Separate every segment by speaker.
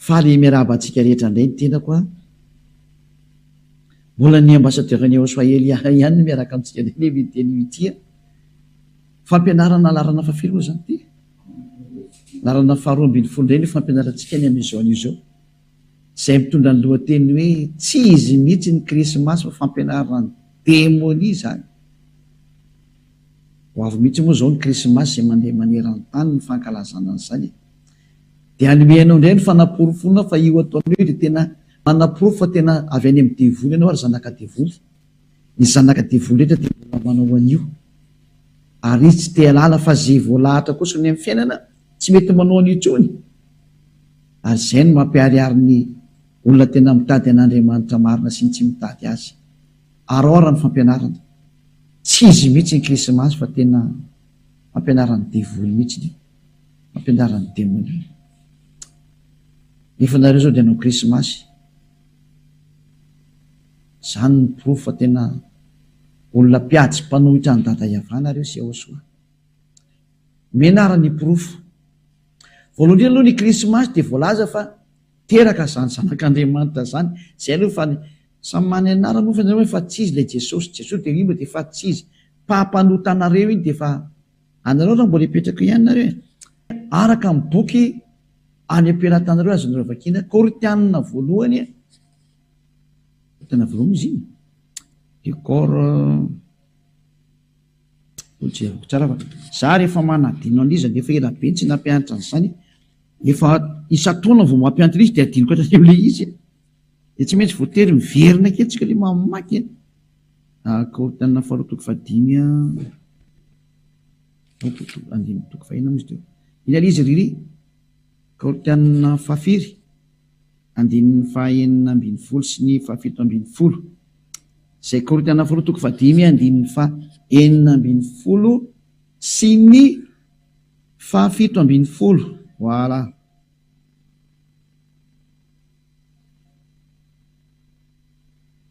Speaker 1: Faly miarahaba antsika rehetra indray ny tenako a. Mbola ny ambassadeur ny ao Swaheli ihany ihany miaraka amintsika indray ve ny teny ity a. Fampianarana laharana fahafiry moa izany ity? Laharana faharoa ambin'ny folo indray no fampianarantsika ny amin'izao anio izao. izay mitondra ny lohateny hoe Tsy izy mihitsy ny Krismasy fa fampianaran'ny demonia izany. Ho avy mihitsy moa izao ny Krismasy izay mandeha maneran-tany ny fankalazana an'izany e! Dia hanome anao indray ny fanaporofoana fa io ataonao io dia tena manaporofo fa tena avy any amin'ny devoly ianao ary zanaka devoly. Ny zanaka devoly rehetra dia mbola manao an'io. Ary izy tsy te-hialala fa izay voalahatra kosa ny amin'ny fiainana. Tsy mety manao an'io intsony ary izay no mampiharihary ny olona tena mitady an'Andriamanitra marina sy ny tsy mitady azy. Araoara ny fampianarana. Tsy izy mihitsy ny Krismasy fa tena fampianaran'ny devoly mihitsy iny. Fampianaran'ny demonia iny. Nefa nareo izao dia hanao Krismasy. Izany no porofo fa tena olona mpiady sy mpanohitra an'i Dada Yavah nareo sy Yahoshua. Omena ary ny porofo. Voalohany indrindra aloha ny krismasy dia voalaza fa teraka izany zanak'Andriamanitra izany, izay aloha fa ny, samy manana ny anarany moa fa ny anarany hoe fa tsy izy ilay Jesosy, Jesosy dia io dia fa tsy izy, mpampanotan anareo iny dia fa anareo raha mbola hipetraka eo ihany nareo e! araka ny boky any am-pelatanareo azonareo vakiana, Korintianina voalohany e, Korintianina voalohany izy iny, dia Kor. Za rehefa manadino an'iza nefa ela be tsy nampianatra an'izany, efa isan-taona vao mampianatra an'izy de adinoko hatrany am'le izy e! De tsy maintsy voatery miverina akeo tsika le mamaky e! Akory tena faharoa toko fahadimy a! Andininy toko fahenina moa izy teo. Iny ary izy ry ry. Kaotianina fahafiry? Andininy fahaenina ambin'ny folo sy ny fahafito ambin'ny folo. Izay Kaorintiana faharoa toko fahadimy andininy fahaenina ambin'ny folo sy ny fahafito ambin'ny folo. Voilà.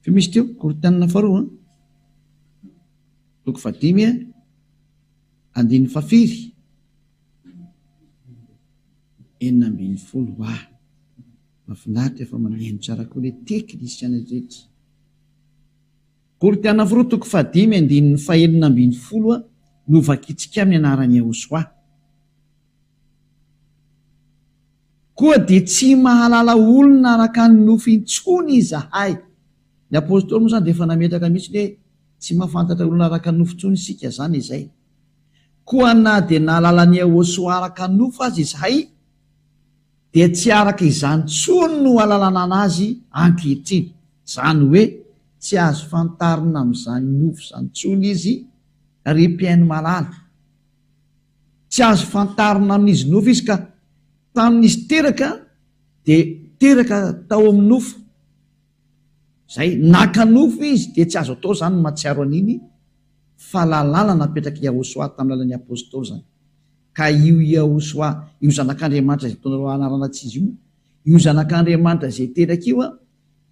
Speaker 1: Fe misy teo, Korintianina faharoa, toko fahadimy, andininy fahafiry? enina ambin'ny folo ha mafinaritra fa maneno tsara koa le teknisiana rehetra Goridiana Voro toko fahadimy andininy fahenina ambin'ny folo a no vakitsika amin'ny anaran'i Yehosoa koa dia tsy mahalala olona araka ny nofo intsony izahay ny apostoly moa izany dia efa nametraka mihitsy hoe tsy mahafantatra olona araka ny nofo intsony isika izany izay Koa na dia nahalala an'i Iehôsoa araka ny nofo aza izahay, dia tsy araka izany intsony no alalana azy ankehitriny, izany hoe tsy azo fantarina amin'izany nofo izany intsony izy, ry mpihaino malala. Tsy azo fantarina amin'izy nofo izy, ka tamin'izy teraka dia teraka tao amin'ny nofo, Izay naka nofo izy dia tsy azo atao izany ny mahatsiaro an'iny fahalalana napetrak'i Yahoshuah tamin'ny alalan'ny Apostoly izany. Ka io Yahoshuah, io Zanak'Andriamanitra izay ataonareo anarana tsy izy io, io Zanak'Andriamanitra izay teraka io an,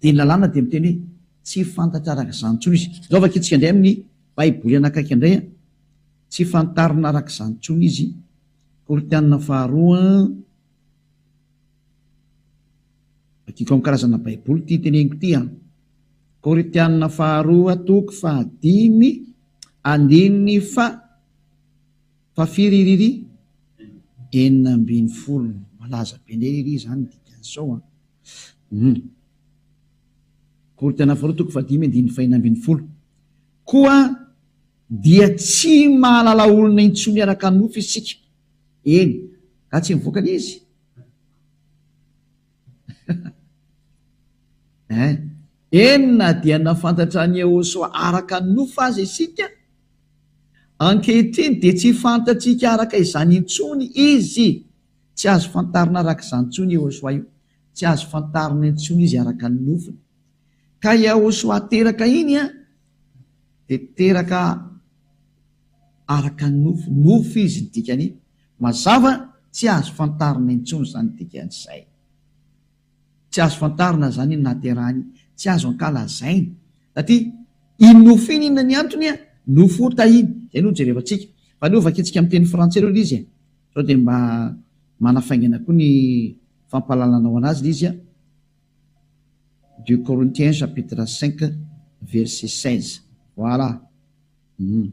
Speaker 1: dia ny lalàna dia miteny hoe tsy fantatra araka izany intsony izy. Izao vakintsika indray amin'ny Baiboly anakaiky indray an, tsy fantarina araka izany intsony izy, Korintiana faharoa an, Vakiko amin'ny karazana baiboly ity teneniko ity an. Korintianina faharoa toko fahadimy andininy fa fafiriririri enina ambin'ny folo malaza be ndray iry izany dikan'izao an. Hmm. Korintianina faharoa toko fahadimy andininy fahina ambin'ny folo. Koa dia tsy mahalala olona intsony araka nofy isika. Eny, ka tsy mivoaka izy. Eny, na dia nahafantatra an'i Yehosua araka ny nofo aza isika, ankehitriny dia tsy fantatsika araka izany intsony izy. Tsy azo fantarina araka izany intsony i Yehosua io. Tsy azo fantarina intsony izy araka ny nofony. Ka i Yehosua teraka iny dia teraka araka ny nofo. Nofo izy, ny dikan'iny. Mazava, tsy azo fantarina intsony izany dikan'izay. Tsy azo fantarina izany iny nahaterahany iny. Tsy azo ankalazaina. Satria iny nofiny inona ny antony a? Nofota iny. Izay no jerevantsika. Fa aleo vakintsika amin'ny teny frantsay aloha ilay izy e. Sao dia mba manafaingana koa ny fampahalalanao anazy ilay izy a. Deux Corinthiens chapitre cinq verset seize. Voilà. Hum.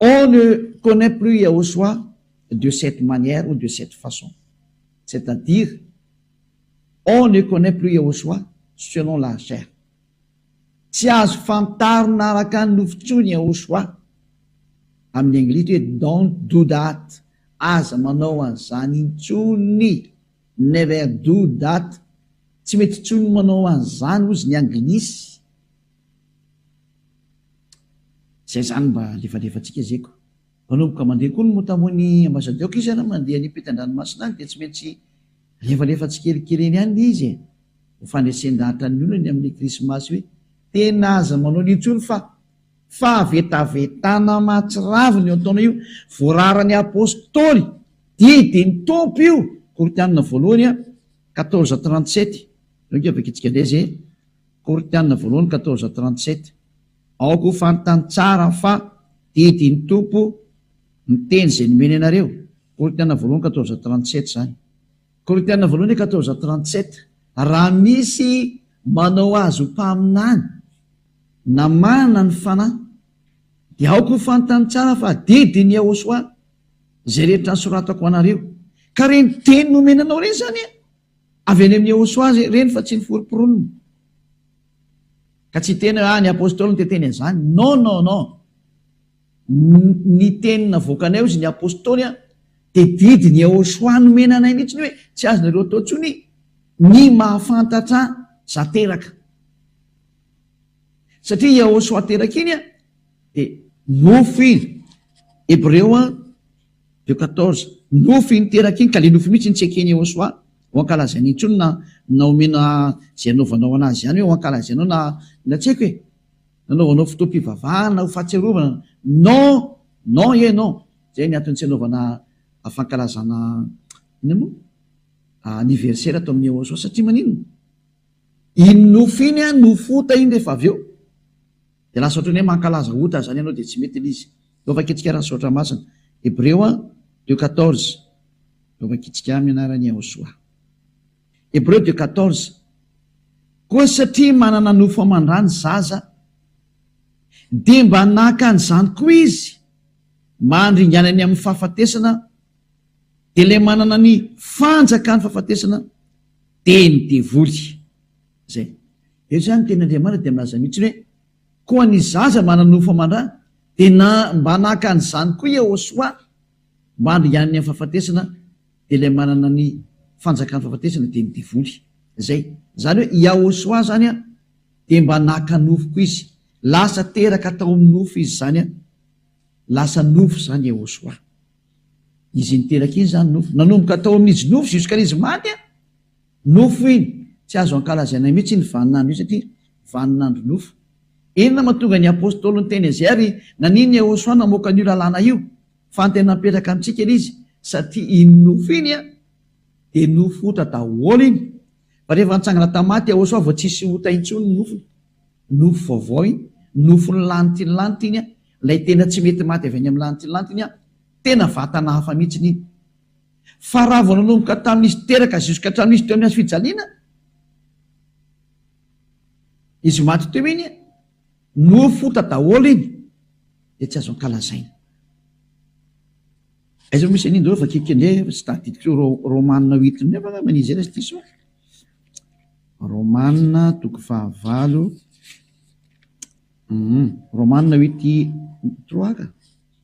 Speaker 1: On ne connait plus Yahosua de cette manière ou de cette façon, c'est à dire on ne connait plus Yahosua selon la chair, tsy azo fantarina araka ny nofo intsony Yahosua, amin'ny anglisy hoe don't do that, aza manao an'izany intsony, never do that, tsy mety intsony ny manao an'izany hozy ny anglisy, Zay zany mba lefalefantsika zeko. Mpanomboka mandeha koa ny mota moa ny ambasadioko izy ary mandeha any ampitan-dranomasina any dia tsy maintsy lefalefa tsikelikely eny any izy e! Ho fandresen-dahatra ny olona ny amin'ny krismasy hoe tena aza manao an'io intsony fa fahavetavetana mahatsiravina io ataonao io! Voararan'ny apostoly, didy ny Tompo io, Korintianina voalohany a, quatorze trente sept, donc avy aketsika indray zay e! Korinthiana voalohany quatorze trente sept Aoka ho fantany tsara fa didy ny Tompo ny teny izay nomeny anareo, Korinthiana voalohany quatorze trente sept izany. Korinthiana voalohany quatorze trente sept Raha misy manao azy ho mpaminany na manana ny Fanahy, dia aoka ho fantany tsara fa didin'i Yahoshuah izay rehetra nosoratako ho anareo. Ka ireny teny nomena anao ireny izany an! Avy any amin'i Iehosoa aza ireny fa tsy niforopronona. Ka tsy teny raha ny Apostoly no te teny an'izany. Non, non, non. Ny teny navoakanay hozy ny Apostoly an, dia didin'i Iehosoa nomena anay mihitsy ny hoe tsy azonareo atao intsony ny mahafantatra za teraka. Satria Iehosoa teraka iny an, dia nofy Hebreo an, Deo quatorze, Nofy iny teraka iny ka le nofy mihitsy iny tsy ekeny eo soa ho ankalazainy intsony na na omena ze anaovanao anazy ihany hoe ho ankalazainao na na tsy haiko e! nanaovanao fotoam-pivavahana ho fahatsiarovana non non ieh non zay ny antony tsy anaovana fankalazana inona moa anniversaire ato amin'ny eo soa satria maninona iny nofy iny an nofy ota iny rehefa avy eo Dia lasa ohatran'ny hoe mankalaza ota izany ianao dia tsy mety ilay izy. Eo vakitsika raha Misaotra Masina. Hebreo deux quatorze Eo vakitsika amin'ny anaran'i Iahosòa. Hebreo deux quatorze Koa satria manana nofo aman-drà ny zaza, dia mba naka an'izany koa izy mba handringanany amin'ny fahafatesana, dia ilay manana ny fanjakan'ny fahafatesana dia ny devoly. Izay. Eto izany ny tenin'Andriamanitra dia milaza mihitsy hoe, Koa ny zaza mananofo aman-dra dia na mba naka an'izany koa Iehôsoa mba handringanany amin'ny fahafatesana, dia ilay manana ny fanjakan'ny fahafatesana dia ny devoly. Izay. Izany hoe Iahôsoa izany dia mba naka nofo koa izy. Lasa teraka tao amin'ny nofo izy izany. Lasa nofo izany Iahôsoa. Izy iny teraka iny izany nofo. Nanomboka tao amin'izy nofo jusqu'à izy maty. Nofo iny, tsy azo ankalazaina mihitsy iny vaninandro iny satria vaninandro nofo. Inona mahatonga ny Apostoly niteny azy ary nanin Yehosua namoaka an'io lalàna io? Fa ny tena mipetraka amintsika ilay izy satria iny nofo iny dia nofo ota daholo iny. Fa rehefa nitsangana tamin'ny maty Yehosua vao tsisy ota intsony ny nofony. Nofo vaovao iny, nofon'ny lanitra iny lanitra iny, ilay tena tsy mety maty avy any amin'ny lanitra iny lanitra iny, tena vatana hafa mihitsy iny. Fa raha vao nanomboka tamin'izy teraka jusque hatramin'ny izy teo amin'ny hazo fijaliana, izy maty teo iny, nofota daholo iny, dia tsy azo ankalazaina. Aiza moa misy an'iny reo fa kekele tsy tadidiko reo Romana huit ny eo angamba izy raha tsy diso aho. Romana toko fahavalo, hum, Romana huit trois ka.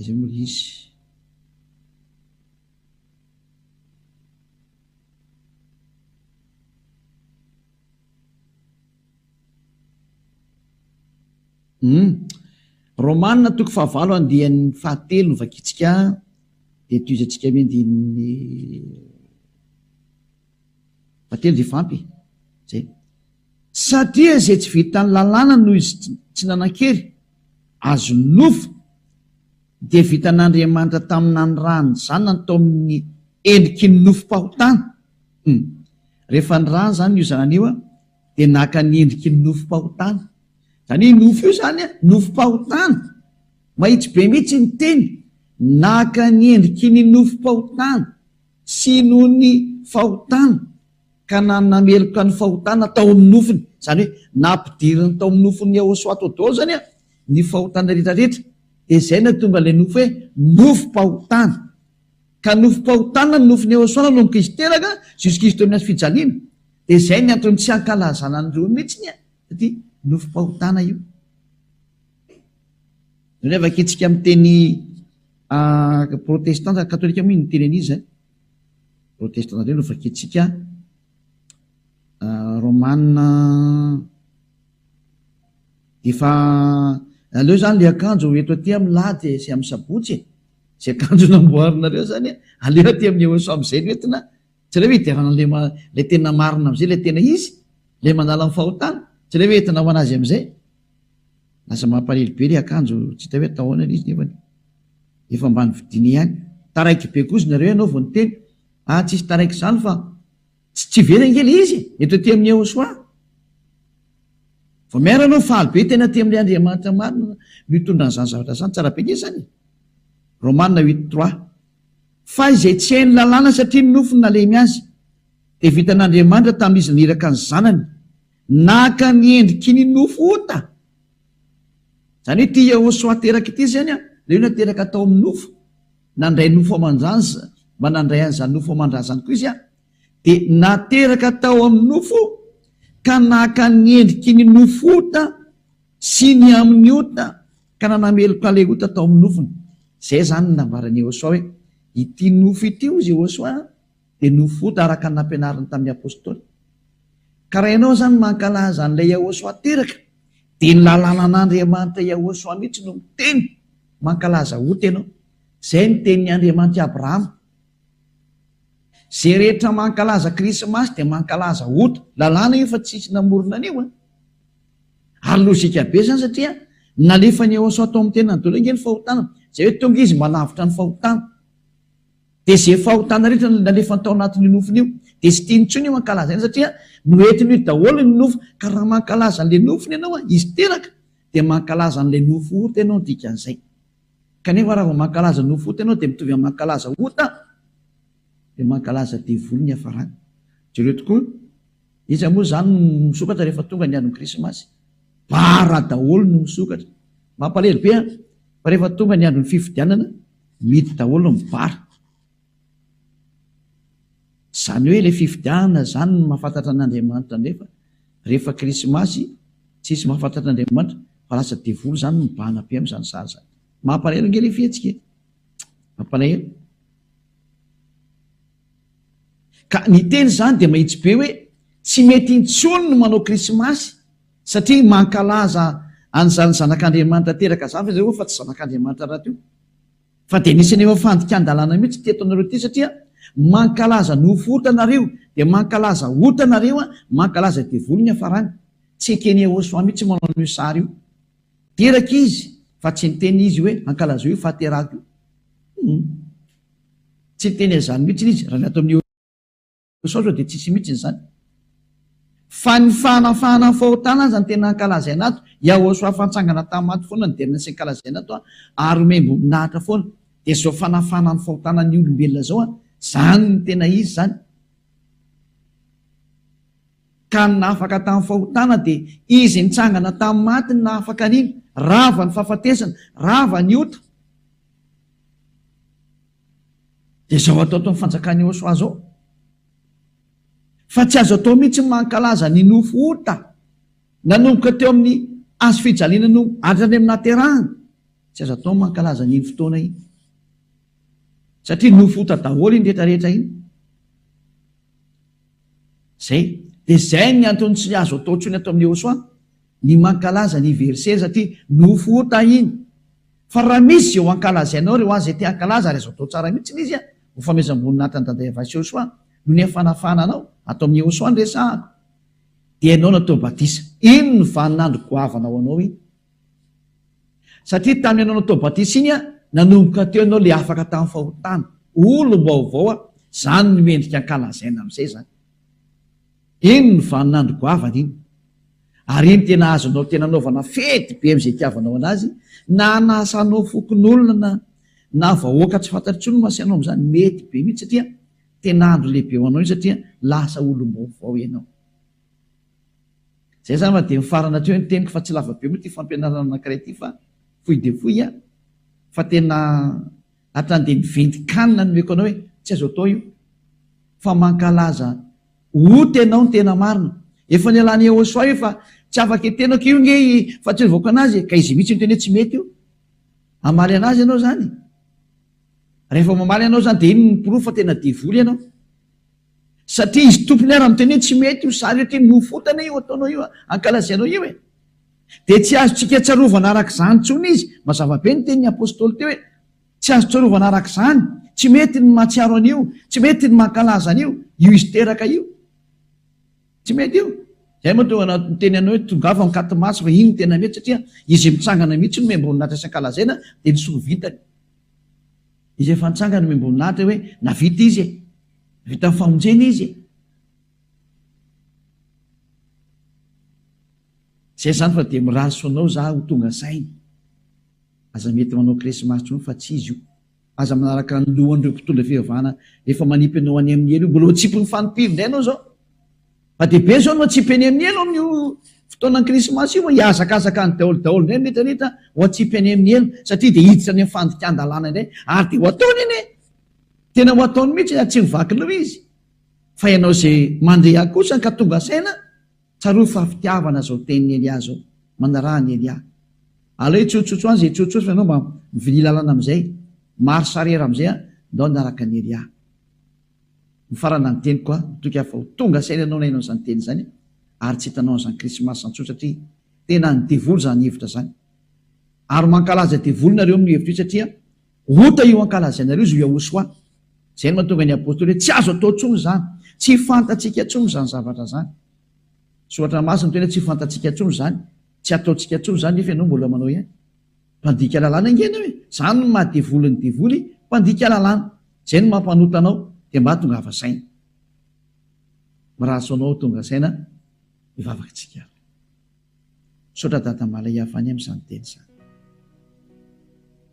Speaker 1: Izay moa izy. Hum. Romana toko fahavalo andiany fahatelo no vakintsika dia tohizatsika amin'ny andininy. Batemy efa ampy e! Zay. Satria izay tsy vitan'ny lalàna noho izy tsy nanan-kery, azo nofy, dia vitan'Andriamanitra tamin'ny nanirahany ny Zanany tao amin'ny endriky ny nofim-pahotana. Humm. Rehefa nirahany izany io Zanany io, dia naka ny endriky ny nofim-pahotana. Izany hoe io nofy io izany nofim-pahotana. Mahitsy be mihitsy ny teny, naka ny endriky ny nofim-pahotana. Tsy noho ny fahotana ka na nameloka ny fahotana tao amin'ny nofony, izany hoe nampidiriny tao amin'ny nofon'i Yehoswatodolo izany ny fahotana rehetra rehetra, dia izay nahatonga ilay nofo hoe nofom-pahotana. Ka nofom-pahotana ny nofon'i Yehoswa nanomboka izy teraka jusqu'Izy teo amin'ny hazo fijaliana. Dia izay ny antony tsy hankalazana an'ireo mihitsy ny aty nofom-pahotana io. Revaka etsika amin'ny teny ah, protestanta, katolika moa ny teny an'iza eh? Protestanta indray no vakintsika ah, romana efa aleo izany ilay akanjo eto aty amin'ny lahady eh, sy amin'ny sabotsy eh, izay akanjo namboarinareo izany eh, aleo aty amin'ny eoso amin'izay no entina, tsy aleo hidiavana ilay ma, ilay tena marina amin'izay, ilay tena izy, ilay manala ny fahotana, tsy aleo entina ho an'azy amin'izay. Lasa mampalahelo be le akanjo tsy hita hoe atao ahoana le izy nefany efa ambany vidiny ihany. Taraiky be koa izy nareo ianao vao niteny ah tsisy taraiky zany fa tsy tsy very ange le izy e! eto aty amin'ny Ehosoa vao miara anao faly be tena aty amin'ilay Andriamanitra marina no hitondra an'izany zavatra zany tsara be nge zany e! Romana huit trois Fa izay tsy hain'ny lalàna satria ny nofony nalemy azy dia vitan'Andriamanitra tamin'izy naniraka ny zanany Naka ny endriky ny nofo ota. Izany hoe ity Yehosua teraka ity izany an, ilay olona teraka tao amin'ny nofo, nandray nofo aman-drazana, mba nandray an'izany nofo aman-drazany koa izy an, dia nateraka tao amin'ny nofo ka naka ny endriky ny nofo ota sy ny amin'ny ota ka nanameloka ilay ota tao amin'ny nofony. Izay izany no nambaran'i Yehosua hoe, Ity nofo ity, hoy Yehosua an, dia nofota araka ny nampianariny tamin'ny Apostoly. Ka raha ianao izany mankalaza an'ilay Yahoshuah teraka, dia ny lalànan'Andriamanitra Yahoshuah mihitsy no miteny, mankalaza ota ianao. Izay ny tenin'ny Andriamanitry Abrahama. Izay rehetra mankalaza Krismasy dia mankalaza ota. Lalàna io fa tsisy namorona an'io an! Ary lojika be izany satria nalefan'i Yahoshuah tao amin'ny tenany daholo ange ny fahotana. Izay hoe tonga izy mba lavitra ny fahotana. Dia ze fahotana rehetra nalefany tao anatin' io nofony io dia tsy tiany intsony io hankalaza eny satria noentiny io daholo ny nofo ka raha mankalaza an'ilay nofony ianao a, izy teraka dia mankalaza an'ilay nofo ota ianao ny dikan'izay. Kanefa raha vao mankalaza nofo ota ianao dia mitovy amin'ny mankalaza ota dia mankalaza devoly ny hiafarany. Jereo tokoa, iza moa izany no misokatra rehefa tonga ny andron'ny krismasy? Bara daholo no misokatra. Mampalahelo be an! Fa rehefa tonga ny andron'ny fifidianana, Mihidy daholo ny bar. Zany hoe le fifidianana zany no mahafantatra an' Andriamanitra nefa rehefa krismasy tsisy mahafantatra Andriamanitra fa lasa devoly zany mibahana be am zany sary zany. Mampalahelo nge le fihetsika e! Mampalahelo. Ka ny teny zany dia mahitsy be hoe tsy mety intsony ny manao krismasy Satria mankalaza an'izany zanak'Andriamanitra teraka izany ry zareo fa tsy zanak'Andriamanitra rahateo. Fa dia nisy anefa fandikan-dalàna mihitsy teto anareo ity satria mankalaza ny hofo ota nareo dia mankalaza ota nareo an, mankalaza devoly ny hafarany. Tsy ekeny Yehosua mihitsy manao an'io sary io. Teraka izy fa tsy niteny izy hoe ankalazeo io fahaterahako io. Humm. Tsy niteny an'izany mihitsy izy raha ny ato amin'ny. Misaotra dia tsisy mihitsy izany. Fa ny fanafahana ny fahotana aza no tena ankalazaina ato. Yahoshua efa nitsangana tamin'ny maty foana no derina sy ankalazaina ato an. Ary omem-boninahitra foana. Dia izao fanafahana ny fahotana ny olombelona izao an. Izany no tena izy izany. Ka ny nahafaka tamin'ny fahotana dia Izy nitsangana tamin'ny maty no nahafaka an'iny. Rava ny fahafatesana. Rava ny ota. Dia izao ataotaon'ny fanjakan'i Yehosua izao. Fa tsy azo atao mihitsy ny mankalaza ny nofo ota nanomboka teo amin'ny Hazo fijaliana no hatrany amin'ny nahaterahana. Tsy azo atao ny mankalaza an'iny fotoana iny. Satria nofo ota daholo iny rehetrarehetra iny. Zay. Dia zay ny antony tsy azo atao intsony ato amin'ny Yehosua. ny mankalaza anniversaire satria nofo ota iny fa raha misy izay ho ankalazainao re hoan izay te hankalaza ary azo atao tsara mihitsy ilay izy a! Hofamezam-boninahitra an'i Daday Avasy Yehosua noho ny hafanafahana anao ato amin'i Yehosua ny resahako dia ianao natao batisa iny no vaninandro goavana ho anao iny satria tamin'ny ianao natao batisa iny a nanomboka teo ianao ilay afaka tamin'ny fahotana olom-baovao a izany no endrika ankalazaina amin'izay izany Iny no vaninandro goavana iny. Ary iny tena azonao tena anaovana fety be amin'izay itiavanao anazy, na anasanao fokonolona na na vahoaka tsy fantatro intsony no asianao amin'izany, mety be mihitsy satria tena andro lehibe ho anao iny satria lasa olom-baovao ianao. Izay zany fa dia mifarana hatreo ny teniko fa tsy lava be moa ity fampianarana anankiray ity fa fohy dia fohy an! fa tena Hatrany dia miventy kanina ny omeko anao e, tsy azo atao io fa mankalaza ota ianao ny tena marina. Efa nialan'i Yehosua io fa tsy afaka itenako io nge i fahatsiarovako anazy e, ka izy mihitsy miteny hoe tsy mety io. Hamaly anazy ianao izany? Rehefa mamaly anao izany dia inona no porofo fa tena devoly ianao? Satria izy tompony ara miteny hoe tsy mety io sary io, ty mofo ota anie io ataonao io, ankalazainao io e. Dia tsy azontsika tsarovana araka izany intsony izy. Mazava be ny tenin'ny apostoly teo hoe, Tsy azo tsarovana araka izany. Tsy mety ny mahatsiaro an'io. Tsy mety ny mankalaza an'io. Io izy teraka io. Tsy mety io. Izay moa tonga niteny anao hoe, Tongava ankati maso fa iny no tena mety satria izy mitsangana mihitsy no miamboninahitra isakalazaina dia ny soa vitany. Izy efa nitsangana no miamboninahitra hoe, Navita izy e. Vita ny famonjena izy e. Zay zany fa dia mirary soa anao za ho tonga saina. Aza mety manao krismasy tsony fa tsy izy io. Aza manaraka ny lohan'ireo mpitondra fivavahana efa manipy anao any amin'ny helo io. Mbola ho atsipin'ny fanipiny indray anao zao. Fa dia be zao no atsipy any amin'ny helo amin'io fotoanan'ny krismasy io fa hihazakazaka any daholo daholo indray ny rehetra rehetra ho atsipy any amin'ny helo satria dia hiditra any amin'ny fandikan-dalàna indray ary dia ho ataony anie. Tena ho ataony mihitsy ary tsy mivaky leo izy. Fa ianao zay mandeha kosa ka tonga saina. Tsarovy fa fitiavana zao tenin'i Elia zao manaraha an'i Elia. Aleo hitsotsotso any zay hitsotsotso fa ianao mba mivilia lalana amizay, marche arrière amizay an, ndao hanaraka an'i Elia. Mifarana ny teniko an, mitoky aho fa ho tonga saina ianao nainao izany teny izany ary tsy hitanao an'izany krismasy zany tsotra satria tena an'ny devoly zany hevitra zany. Ary mankalaza devoly nareo amin'ny hevitra io satria Ota io ankalazainareo izao Yahosoa. Izay no mahatonga ny Apostoly hoe tsy azo atao intsony izany. Tsy fantatsika intsony izany zavatra izany. Ny Soratra Masina miteny hoe tsy fantatsika intsony izany, tsy ataontsika intsony izany nefa ianao mbola manao ihany. Mpandika lalàna ange ianao e! Izany no maha devoly ny devoly, mpandika lalàna. Izay no mampanota anao dia mba tongava saina. Mirary soa anao tonga saina hivavaka tsika ary. Misaotra Dada Malayavani amin'izany teny izany.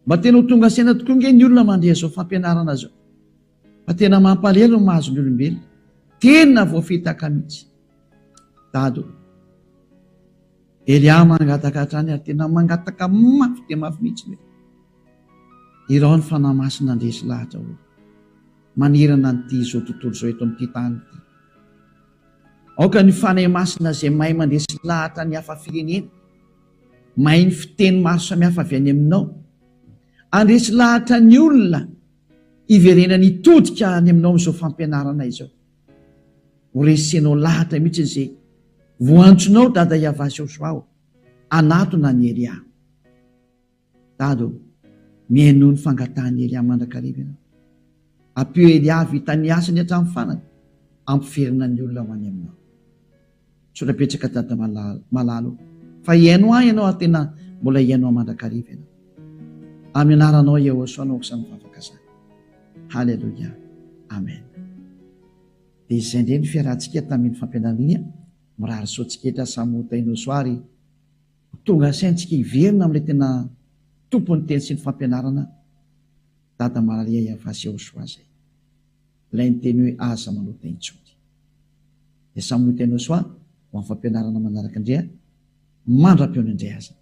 Speaker 1: Mba tena ho tonga saina tokoa ange ny olona mandre izao fampianarana izao fa tena mampalelo ny mahazo ny olombelona. Tena voafitaka mihitsy. Dada o. Elia mangataka hatrany ary tena mangataka mafy dia mafy mihitsy hoe irao ny fanahy masina handresy lahatra hoe manerana an'ity izao tontolo izao eto amin'ity tany ity. Aoka ny Fanahy Masina izay mahay mandresy lahatra ny hafa firenena, mahay ny fiteny maro samihafa avy any Aminao, handresy lahatra ny olona hiverenany hitodika any Aminao amin'izao fampianarana izao. Horesenao lahatra mihitsy izay voantsonao Dada Yavazao Joao, hanatona an'i Elia. Dada ô, mihainoa ny fangatahan'i Elia mandrakariva ianao. Ampio Eliavy hita ny asany hatramin'ny farany, ampiverina ny olona ho any aminao. Misaotra betsaka Dada malala, malala ô, fa hihaino ahy ianao ary tena mbola hihaino ahy mandrakariva ianao. Amin'ny anaranao Yehosua no asa mivavaka izany. Haleloia. Amen. Dia izay indray ny fiarahantsika tamin'ny fampianarana iny a. Mirary soa tsiketra samy ho tahin'Yehosua ary. Tonga asaintsika hiverina amin'ilay tena Tompon'ny teny sy ny fampianarana, Dada Maralia Yavah sy Yehoshuah izay. Ilay niteny hoe Aza manota intsony. Dia samy ho teny Yehoshuah ho amin'ny fampianarana manaraka indray mandra-pihaona indray azany.